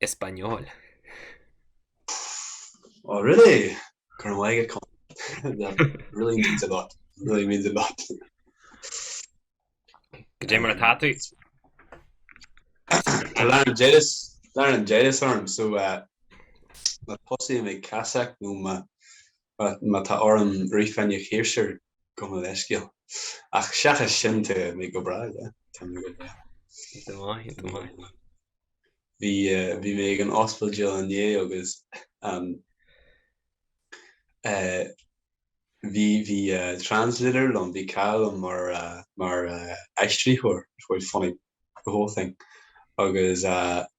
Español. Oh really? Go raibh maith agat Colm. That really means a lot. Really means a lot. Cad é mar atá tú. Tá laryngitis, laryngitis orm so má tosaím ag casacht nó má má tá orm rith fá choinne ciarsúr, gabh mo leithscéal. Ach seachas sin, tá mé go breá, yeah. Tá mé go breá. Tá mé go maith, tá mé go maith. Bhí, bhí mé ag an ospidéal inné agus ehm, eh, bhí, bhí eh translator liom, bhí cara liom mar eh, mar eh aistritheoir, a bhí funny, the whole thing. Agus eh.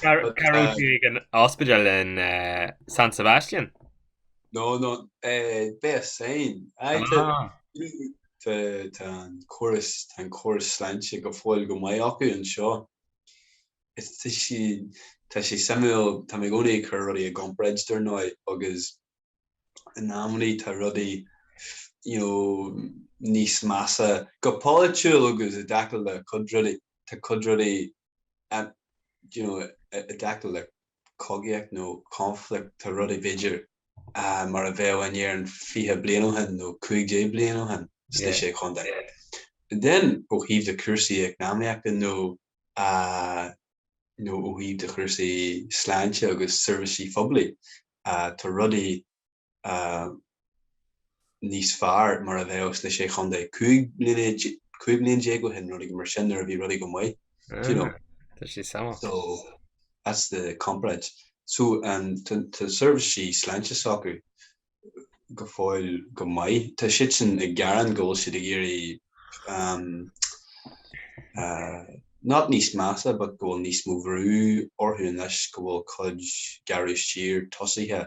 Cá raibh ag an ospidéal in San Sebastian? No no Beasain. Tá an córas tá an córas sláinte go fóill go maith acu anseo. Tá sé suimiúil tá mé i gcónaí ag cur rudaí i gcomparáid dar ndóigh agus in amannaí tá rudaí you know níos measa go polaitiúil agus i dtaca le cuid rudaí tá cuid rudaí an you know i dtaca le cogaíocht nó conflict tá rudaí b'fhéidir mar a bheadh in Éirinn 20 bliain ó shin nó 15 bliain ó shin sna Sé Chontae. Then ó thaobh de chúrsaí eacnamaíochta nó nó ó thaobh de chúrsaí sláinte agus seirbhísí poiblí tá rudaí, níos fearr mar a bheadh sna Sé Chontae 15 bliain déag ó shin nó rudaí mar sin nuair a bhí rudaí go maith. D'you know. So that's the comparáid. So tá seirbhísí sláinte s'acu go fóill go maith. Tá siadsan ag gearán go bhfuil siad ag éirí not níos measa but go bhfuil níos mó brú orthu anois go bhfuil cuid gearradh siar tosaithe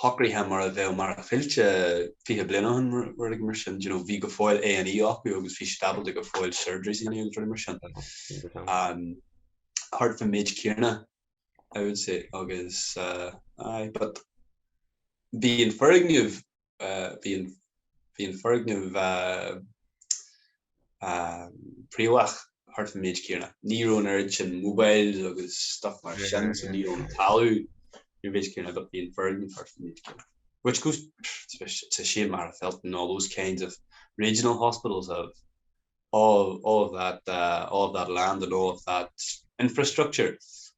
shocraithe mar a bheadh Machaire Fíolta fiche bliain ó shin, rud éigin mar sin. D'you know, bhí go fóill A and E acu agus bhí siad ábalta go fóill surgeries a dhéanamh agus rudaí mar sin. Um, thart fán mhéid céanna, I would say, agus, uh, aye, but bhí an foirgneamh Bhí an foirgneamh príomha thart faoin méid céanna. Ní raibh an oiread sin mobiles agus stuff mar sin so ní raibh an talamh faoin mhéid céanna but bhí an foirgneamh thart faoin méid céanna. Which is, it's a shame Magherafelt and all those kinds of regional hospitals have all of that, all of that land and all of that infrastructure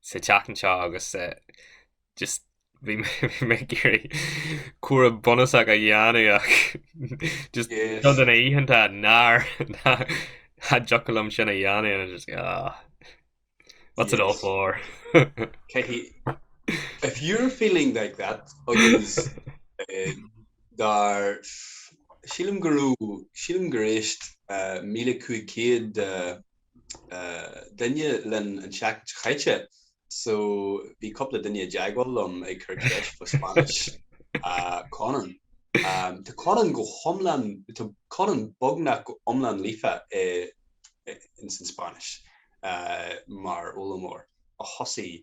sa teach anseo agus just bhí mé ag iarraidh cúram bunúsach a dhéanamh ach just sna hoícheanta nach dtiocfadh liom sin a dhéanamh and I just go oh what's it all for if you're feeling like that agus dar sílim go raibh sílim gur éist 1500 duine linn an tseachtain seo chaite so bhí cúpla duine i dteagmháil liom ag cur ceist fa Spáinnis Conan. Tá Conan go hiomlán, tá Conan beagnach go iomlán líofa i in san Spáinnis mar fhoghlaimeoir ó thosaigh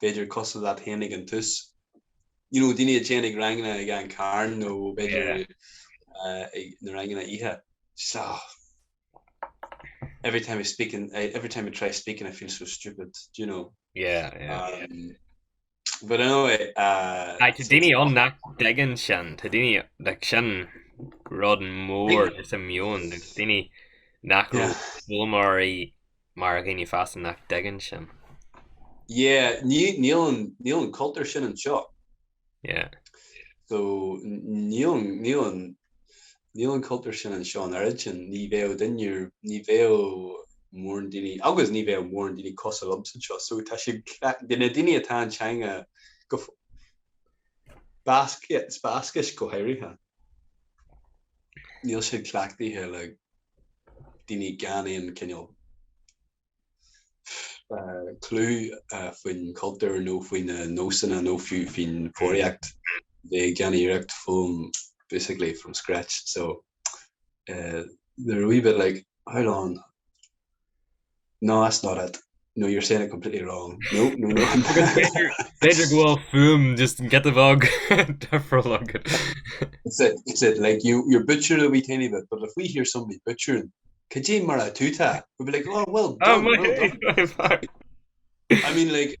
b'fhéidir cosúil leat féin ag an tús. You know, daoine a dhéanfadh ranganna ag an Carn nó b'fhéidir na ranganna oíche. Just, oh, every time I speak in, every time I try speaking I feel so stupid, do you know. Yeah, yeah. Um, but anyway, uh, Aye, tá daoine ann nach dtuigeann sin, tá daoine, like, sin rud mór i mo mheon, daoine nach raibh Yeah. foghlaimeoirí Mar a dhaoine fásta nach dtuigeann sin. Yeah, níl an cultúr sin anseo. Yeah. So, níl an cultúr sin anseo an oiread sin. Ní bheadh duine, ní bheadh móran daoine, agus ní bheadh móran daoine cosúil liomsa anseo. So, tá siad cleachtaithe, de na daoine atá an teanga go, Bascais go háirithe. Níl siad cleachtaithe le daoine gan aon cineál clú faoin chultúr nó faoi na nósanna nó fiú faoin bhfoghraíocht. ag déanamh iarracht foghlaim basically from scratch so they're a wee bit like, how long? No that's not it. No you're saying it completely wrong. No no no. B'fhéidir go bhfuil fuaim just get a bhog deifriúil agat. That's it, that's it. Like you, you're butchering a wee tiny bit, but if we hear somebody butchering, cad é mar atá tú tá? We'd be like, oh well done, well done. I mean like,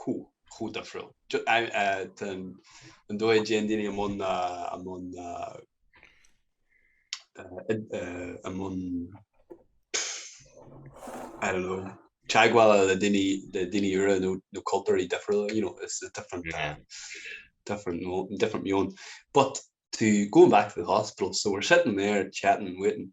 chomh chomh difriúil just an an dóigh a dtéann daoine i mbun i mbun i mbun I don't know teagmhála le daoine le daoine úra nó nó cultúrthaí difriúla you know it's a different yeah. different different meon but to going back to the hospital so we're sitting there chatting and waiting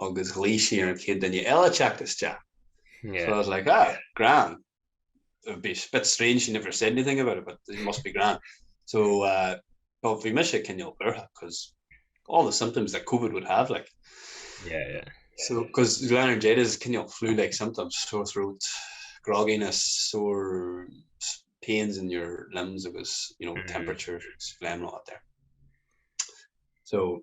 agus ghlaoigh sí ar an chéad duine eile teacht isteach yeah. so I was like ah grand it would be a bit strange she never said anything about it but it must be grand so uh but bhí mis cinol bertha because all the symptoms that COVID would have like yeah yeah so because Glenn Jade is cinol flu like symptoms sore throat grogginess sore pains in your limbs agus you know mm -hmm. temperature phlegm lot there so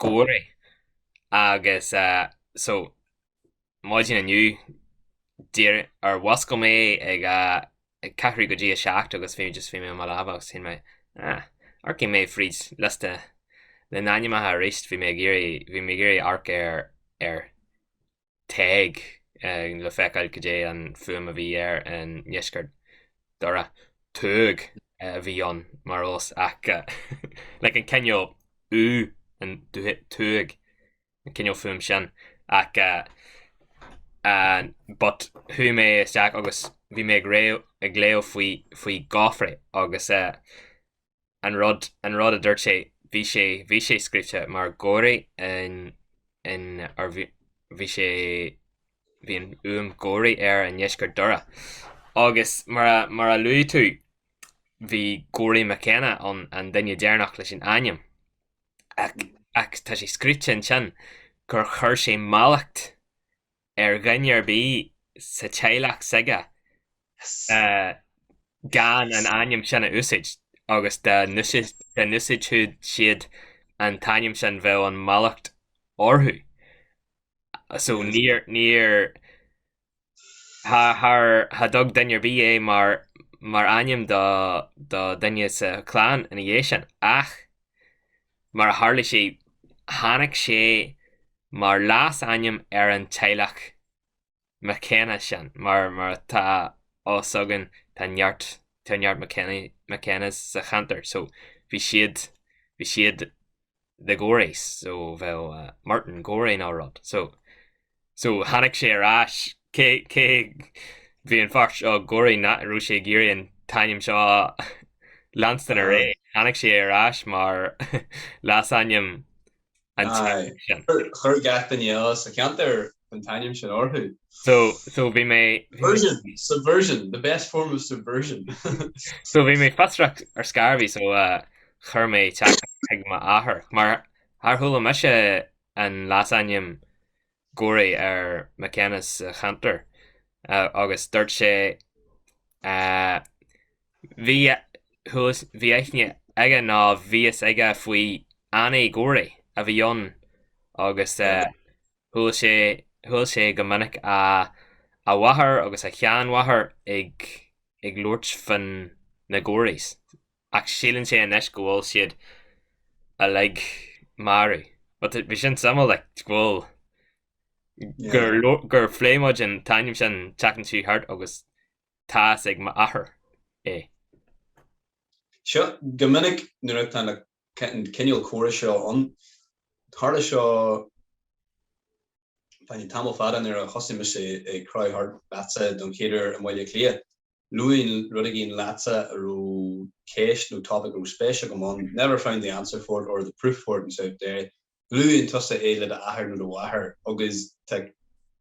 Gaoraidh agus so maidin inniu nuair a mhuscail mé ag a ceathrú go dtí a seacht agus bhí just bhí mé i mo leaba agus shíl mé ah amharcfaidh mé fríd liosta na n-ainmneacha aríst bhí mé ag iarraidh bhí mé ag iarraidh amharc ar ar Tadhg, le feiceáil cad é an fuaim a bhí air i ndeisceart Dhoire. Tuag a bhí ann mar fhos ach like an cineál u an tuag an cineál fuaim sin ach an but chuaigh mé isteach agus bhí mé ag léamh faoi faoi Gofraidh agus eh an rud, an rud a dúirt sé, bhí sé, bhí sé scríte mar Gorey in, in, or bhí, bhí sé, bhí an fhuaim Gorey air i ndeisceart Dhoire. Agus mar a, mar a luaigh tú, bhí Gorey McKenna ann, an duine deireanach leis an ainm. Ach, ach tá sé scríte ansin gur chuir sé mallacht ar dhuine ar bith sa teaghlach s'aige gan an ainm sin a úsáid agus dá n-úsáidfeadh siad an t-ainm sin bheadh an mallacht orthu. So níor, níor, char, cha dtug duine ar bith é mar, mar ainm do, do dhuine sa chlann ina dhiaidh sin ach Mar a tharla sé, tháinig sé mar leas-ainm ar an teaghlach McKenna sin. Mar atá a fhios againn, tá neart, tá neart McKenna, McKennas sa cheantar. So, bhí siad, bhí siad The Goreys, so bheadh Martin Gorey nó rud. So, So tháinig sé ar ais. Cé, cé, bhí an fear seo ag ráit nach raibh sé ag iarraidh an t-ainm seo a leanstan ar aghaidh. Tháinig sé ar ais mar leasainm an té sin. Chuir gach duine eile sa cheantar an t-ainm sin orthu. So, so bhí mé, bhí mé. Subversion, subversion, the best form of subversion. So bhí mé fiosrach ar scor ar bith so chuir mé teachtaireacht chuig m'athair mar, char chuala mise an leasainm Gorey ar McKenna sa cheantar agus dúirt sé Bhí chuas, bhí aithne aige nó bhí a fhios aige faoi Annie Gorey a bhí ann agus chuala sé, chuala sé go minic a a mháthair agus a sheanmháthair ag, ag labhairt fá na Goreys. ach síleann sé anois go bhfuil siad uilig marbh but bhí sin suimiúil like go bhfuil gur leor gur phlé muid an t-ainm sin an tseachtain seo thart agus tá a fhios ag m'athair é. So, go minic nuair atá na an cineál comhrá seo ann, tharla seo tamall fada nuair a thosaigh mise ag crochadh thart leatsa don chéad uair i mBaile Átha Cliath, Luaim rud éigin leatsa a raibh ceist nó topaic a raibh spéis agam ann. Never found the answer for it or the proof for it in South Derry. Luann tusa é le d'athair nó do mháthair agus tá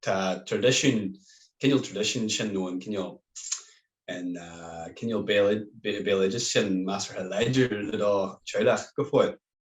tá traidisiún, an cineál traidisiún sin nó an cineál an cineál béaloideas sin measartha láidir i do theaghlach go fóill.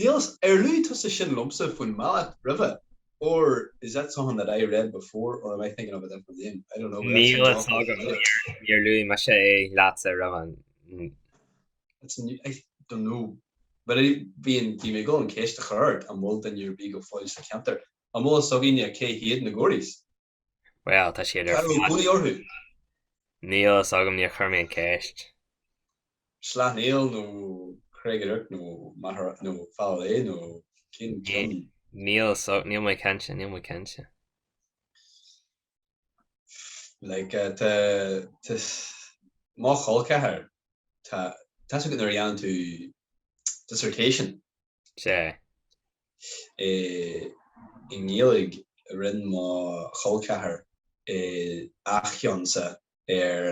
Níl ar luaigh tusa sin liomsa fán bhealach roimhe, or is that something that I read before or am I thinking of a different name? I don't know but that's a Níl fhios job agam níor níor luaigh mise é leatsa roimhe. N. It's a new, I don't know but I bhí an, bhí mé ag dul an ceist a chur ort an bhfuil duine ar bith go fóill sa cheantar? An bhfuil fhios againne cé hiad na Gories? Bhuel, tá siad ar fad. Cá raibh cónaí orthu? Níl a fhios agam, níor chuir mé an ceist. Sleacht Néill nó Creig an Earc nó Machaire nó Fearann Léith nó cén ceann? Níl a fhios, níl mé cinnte, níl mé cinnte. Like, tá, tá, mo chol ceathair, tá, tá a fhios agat nuair a dhéanann tú dissertation. Sea. é i nGaeilge rinne mo chol ceathair a cheannsan ar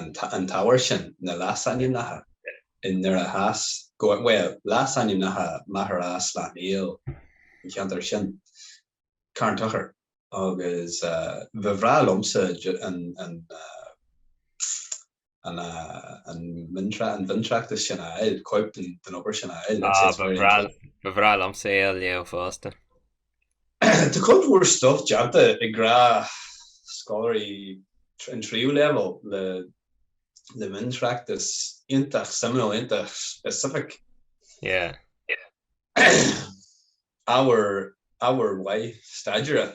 an ábhar sin na leasainmneacha in Doire Theas go bhfuil leasainmneacha Machaire Sleacht Néill an cheantair sin Carn Tochair agus ba bhreá liomsa an an an bhaintreacht is sin a fháil, cóip den obair sin a fháil. Ba bhreá liomsa é a léamh fosta. Tá cuid mhór stuif déanta ag scoláirí an tríú leibhéal le miontráchtas iontach suimiúil, iontach specific. Ábhar maith staidéir.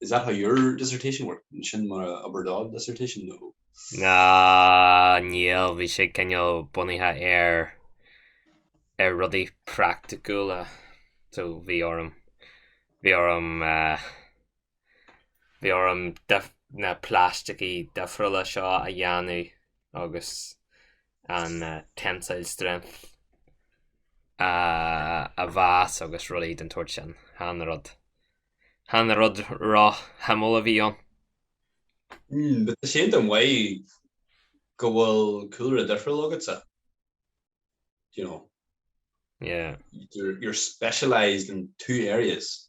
Is that how your dissertation worked? Sin mar a d'oibir do dissertation nó? Ahh níl, bhí sé cineál bunaithe ar ar rudaí praiticiúla. So bhí orm bhí orm eh, bhí orm dif- na plaisticí difriúla seo a dhéanamh agus an tensile strength a mheas agus rudaí den tsórt sin. Chan rud. chan rud ró-shuimiúil a bhí ann. Mm, bhuel tá sé iontach maith go bhfuil cúlra difriúil agatsa, you know. Yeah. You're, you're specialised in two areas.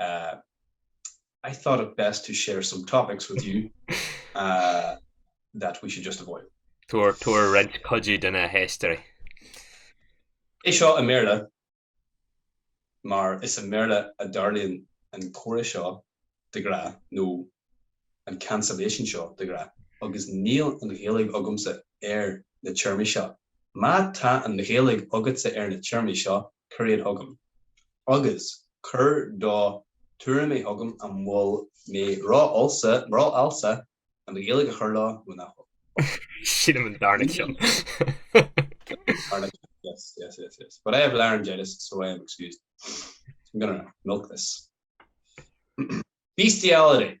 I thought it best to share some topics with you that we should just avoid. Tabhair roinnt cuidiú do na haisteoirí. Seo i mBéarla mar is i mBéarla a dtarlaíonn an comhrá seo de ghnáth nó an cancellation seo de ghnáth agus níl an Ghaeilge agamsa ar na téarmaí seo. Má tá an Ghaeilge agatsa ar na téarmaí seo cuir iad chugam agus cuir do tuairimí chugam an bhfuil mé rófhalsa, rófhalsa, Gaeilge a chur leo nó nach bhfuil. Sílim an darna ceann. Darna ceann, yes, yes, yes, yes. But I have laryngitis so I am excused. I'm gonna milk this. Bestiality!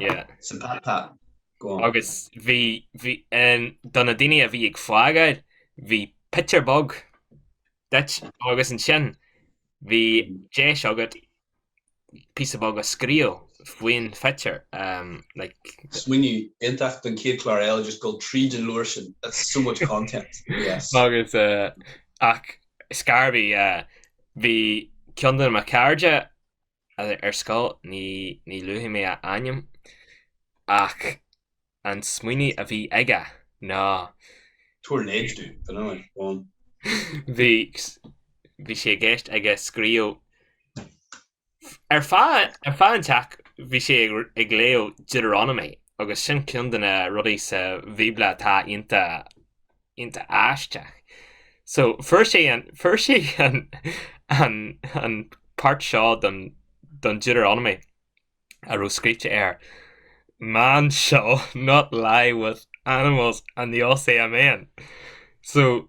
yeah. Sa ta ta. Go on. Agus bhí, bhí, em, do na daoine a bhí ag fágáil, bhí pictiúr beag duit agus ansin bhí deis agat píosa beag a scríobh faoin phictiúr, em, like. Smaoineamh iontach don chéad chlár eile, just dul tríd an leabhar sin, that's so much content, yes. Agus, eh, ach is cé a bhí, eh, bhí ceann de mo chairde ar scoil, ní, ní luafaidh mé a ainm ach an smaoineamh a bhí aige ná. Tabhair leid dúinn, dar ndóigh, go on. Bhí, bhí sé i gceist aige scríobh ar feadh, ar feadh an tseal bhí sé ag, ag léamh Deuteronomy agus sin ceann de na rudaí sa Bhíobla atá iontach, iontach aisteach. So, fuair sé an, fuair sé an, an, an pháirt seo den, den Deuteronomy a raibh scríte air, Man shall not lie with animals and the OCMN. So.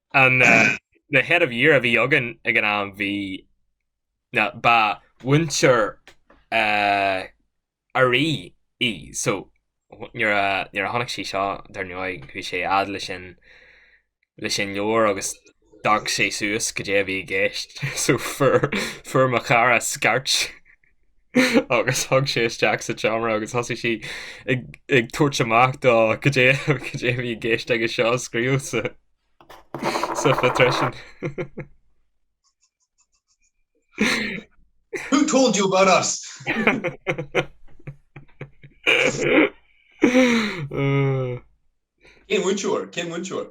An head of year a bhí againn ag an am bhí, ba mhúinteoir RE í so nuair a nuair a chonaic sí seo dar ndóigh bhí sé ag léamh sin leis an leabhar agus d'amharc sí suas cad é a bhí i gceist so fuair fuair mo chara scairt agus tugadh isteach sa tseomra agus thosaigh sí ag tabhairt amach dó cad é a bhí i gceist aige seo a scríobh sa phíosa sin. Who told you about us? Cén múinteoir?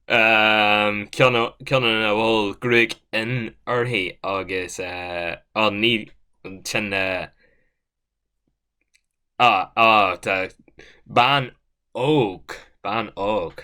ceann ina bhfuil gruaig fhionn uirthi agus ansin tá bean óg, bean óg.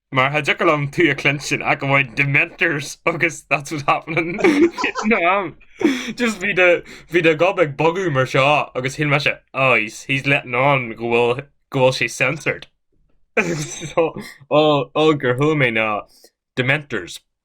Mar cha dtiocfadh liom tú a chluinstin ach amháin Dementors agus That's What's Happening Vietnam. Just bhí do bhí do gob ag bogadh mar seo agus shíl mise oh he's, he's letting on go bhfuil go bhfuil sé censored. so, ó ó gur luaigh mé na Dementors.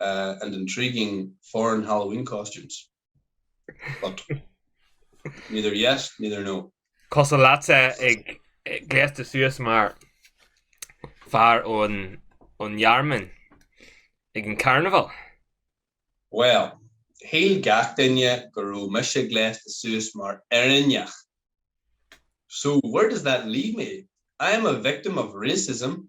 and intriguing foreign Halloween costumes but neither yes neither no. Cosúil leatsa gléasta suas mar fear ón Ghearmáin ag an carnival. Bhuel, shíl gach duine go raibh mise gléasta suas mar Éireannach. So where does that leave me? I am a victim of racism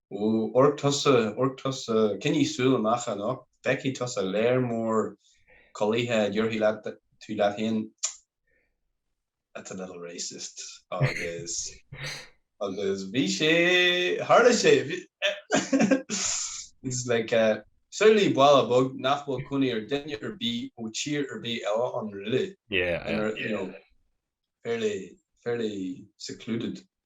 Ó, amharc tusa, amharc tusa, coinnigh súil amach anocht, feicfidh tusa léar mór culaithe a déarfaidh leat, tú leat féin, That's a little racist agus, agus bhí sé, tharla sé, bhí, it's like a, samhlaigh baile beag nach bhfuil cónaí ar dhuine ar bith ó thír ar bith eile ann really, yeah, you know, fairly, fairly secluded.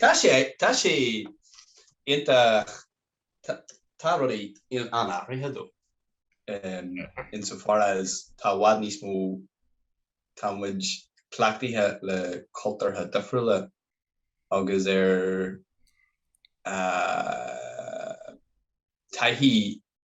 Tá sé, tá sé iontach, tá rudaí an-athraithe though in so far as tá i bhfad níos mó, tá muid cleachtaithe le cultúrtha difriúla agus ar taithí.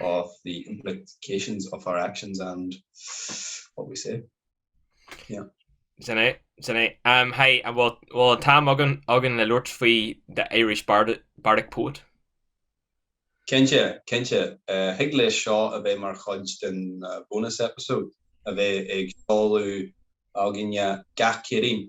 of the implications of our actions and what we say. Yeah. Sin é, sin é. Um, hey, an bhfuil bhfuil an t-am againn againn le labhairt faoi the Irish bard, bardic poet? Cinnte, cinnte. Uh, thig leis seo a bheith mar chuid den uh, bonus episode a bheidh ag seoladh againne gach Céadaoin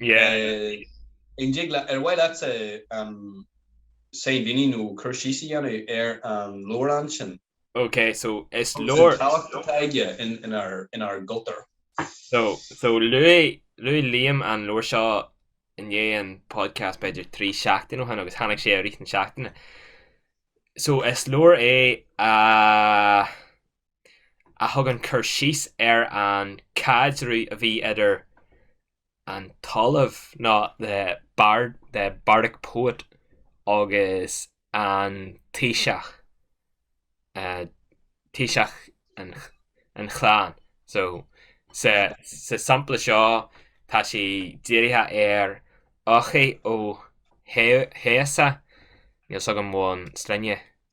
An dtig leat, ar mhaith leat sainmhíniú nó cur síos a dhéanamh ar an leabhrán sin? Ok, so is leabhar. Cén tábhacht atá aige inár gcultúr? So, so luaigh, luaigh Liam an leabhar seo i ndiaidh an podcast b'fhéidir trí seachtaine ó shin agus tháinig sé i rith na seachtaine. So is leabhar é a. a thugann cur síos ar an caidreamh a bhí idir an tOllamh nó the bard, the bardic poet agus an taoiseach, taoiseach an chlann. So sa sampla seo tá sé dírithe ar Eochaidh Ó hEodhasa, níl 's agam faoin sloinne,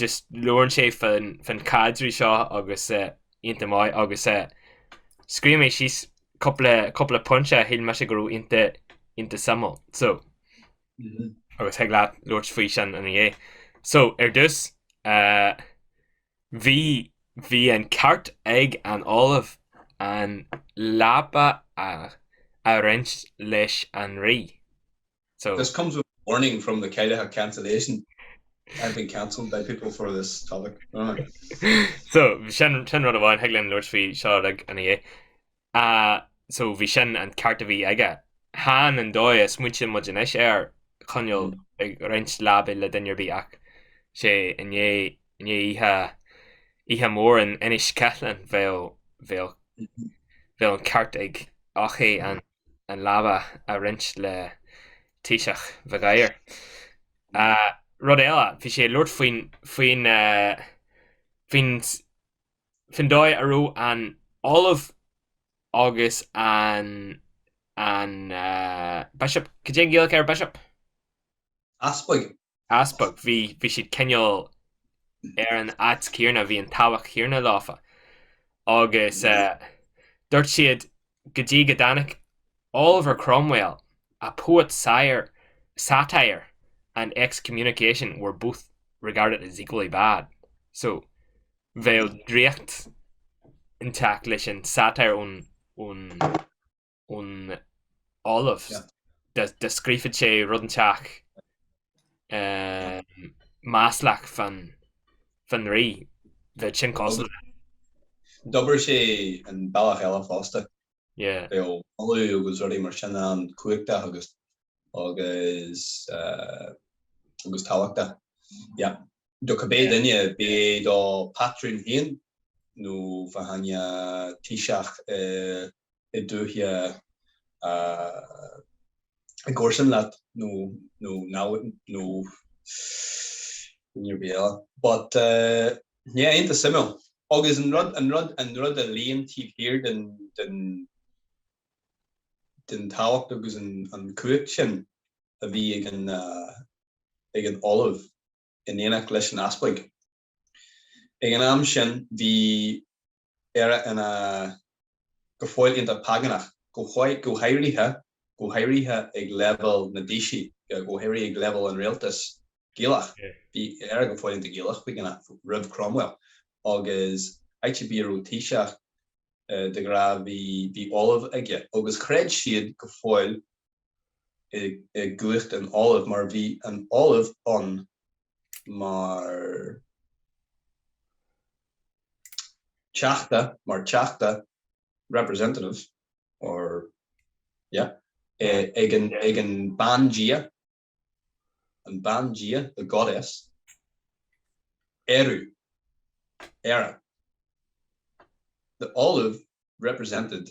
just labhrann sé fán caidreamh seo agus iontach maith agus scríobh mé síos cúpla cúpla pointe a shíl mise go raibh iontach iontach suimiúil so agus thig leat labhairt faoi sin an ea? So ar dtús bhí bhí an ceart ag an Ollamh an leapa a a roinnt leis an Rí. so. This comes with a warning from the Ceilteach cancellation I've been cancelled by people for this topic So sin sin rud amháin thig linn labhairt faoi seo ina dhiaidh. Ah so bhí sin an ceart a bhí aige. Chan an dóigh a smaointeodh muid anois air, cineál ag roinnt leabaidh le duine ar bith ach i ndiaidh i ndiaidh oíche oíche mhór in Inis Ceithleann bheadh bheadh bheadh an ceart ag Eochaidh an an leaba a roinnt le Taoiseach Mhig Uidhir. Rud eile, bhí sé ag labhairt faoin, faoin, faoin, faoin dóigh a raibh an Ollamh agus an, an Bishop, cad é an Ghaeilge ar Bishop? Easpag, Easpag. Bhí, bhí siad cineál ar an áit céanna, bhí an tábhacht chéanna leofa. Agus dúirt siad go dtí go dtáinig Oliver Cromwell a poet's satire and excommunication were both regarded as equally bad. So bheadh draíocht inteacht leis an satire ón, ón. ón ollamh. Dá scríobhfadh sé rud inteacht maslach fán rí. Bheadh sin cosúil le. D'oibrigh sé an bealach eile fosta. Bhíodh moladh agus rudaí mar sin ann cumhachtach agus agus tábhachtach. Yeah. Do cibé duine, bíodh sé do phátrún féin nó fá choinne taoiseach i i dúiche i gcomharsan leat nó nó namhaid nó rud ar bith eile but yeah iontach suimiúil agus an rud an rud an rud a luíonn taobh thiar den den den tábhacht agus an an cumhacht sin a bhí ag an ag an ollamh in éineacht leis an easpag. Ag an am sin bhí Éire ina go fóill iontach págánach, go háirithe go háirithe ag leibhéal na dtaoiseach, go háirithe ag leibhéal an rialtas Gaelach. Bhí Éire go fóill iontach Gaelach go ghnách, roimh Cromwell, agus áit ar bith a raibh taoiseach de ghnáth bhí ollamh aige, agus chreid siad go fóill i gcumhacht an Ollaimh mar bhí an Ollamh ann mar theachta, mar teachta, representative or yeah, ag an bandia, an bandia, the goddess, Ériú, Éire. The Ollamh represented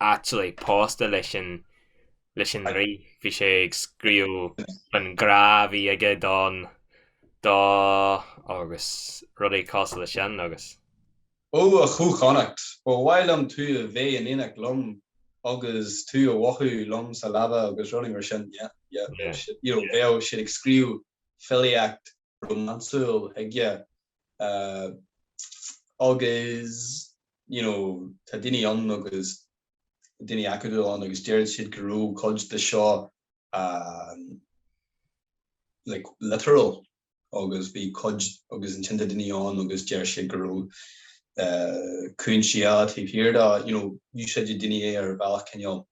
actually pósta leis an, leis an Rí, bhí sé ag scríobh faoin ngrá a bhí aige don, dó agus rudaí cosúil leis sin agus. Ó a Chú Chonnacht, ba mhaith liom tú a bheith in éineacht liom agus tú a bheith liom sa leaba agus rudaí mar sin, yeah, yeah, yeah, you know, bheadh siad ag scríobh filíocht rómánsúil chuige agus you know tá daoine ann agus daoine acadúla ann agus deir siad go raibh cuid de seo like literal agus bhí cuid agus ansin tá daoine ann agus deir siad go raibh cúinsí eile taobh thiar de, you know úsáideann daoine é ar bhealach cineál.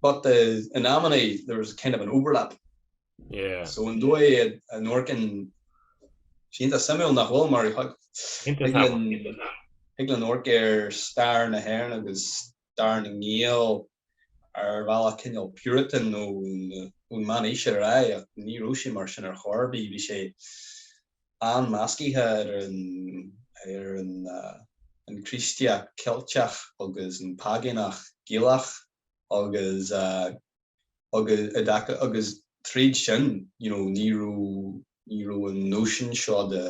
But in amanna there was kind of an overlap so an dóigh a n-amharcann, tá sé iontach suimiúil nach bhfuil mar thig linn amharc ar stair na hÉireann agus stair na nGael ar bhealach cineál puritan ón meánaois ar aghaidh ach ní raibh sé mar sin ar chor ar bith bhí sé An-mheascaithe ar an Chríostaíocht Cheilteach agus an Págánach Gaelach agus agus i dtaca agus tríd sin you know ní raibh ní raibh an nóisean seo de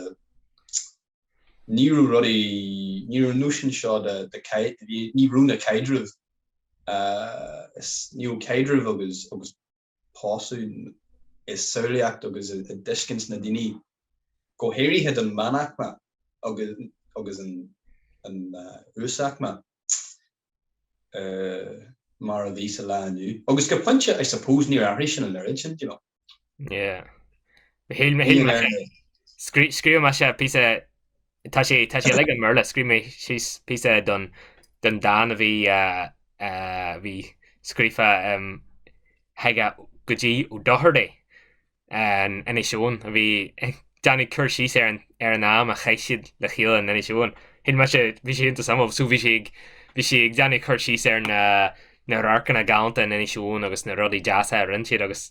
ní raibh rudaí ní raibh an nóisean seo de de caid ní raibh na caidrimh ní raibh caidrimh agus agus pósadh i samhlaíocht agus i dtuiscint na ndaoine, go háirithe don mheánaicme agus an uasaicme mar a bhíos sa lá inniu. Agus go pointe I suppose níor athraigh sin an oiread sin, you know. Yeah. Scríobh mé síos píosa Tá sé tá sé like i mBéarla, scríobh mé síos píosa don don dán a bhí bhí scríofa chuige go dtí Ó Dochartaigh in Inis Eoghain a bhí ag déanamh cur síos ar ar an am a chaith siad le chéile in Inis Eoghain. Shíl mise bhí sé iontach sámh so bhí sé ag bhí sé ag déanamh cur síos ar na na radharcanna galánta in Inis Eoghain agus na rudaí deasa a rinne siad agus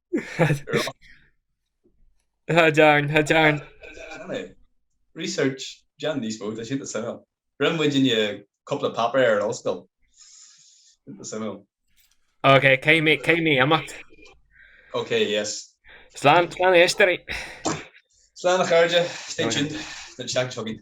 Tá dearn, tá dearn. Research, déan níos mó, tá siad suimiúil. Rinne muid inniu cúpla páipéar ar ollscoil. Tá suimiúil. Ok, caithfidh mé, caithfidh mé imeacht. Ok, yes. Slán, slán a éisteoirí. Slán a chairde, stay tuned don seachtain seo chugainn.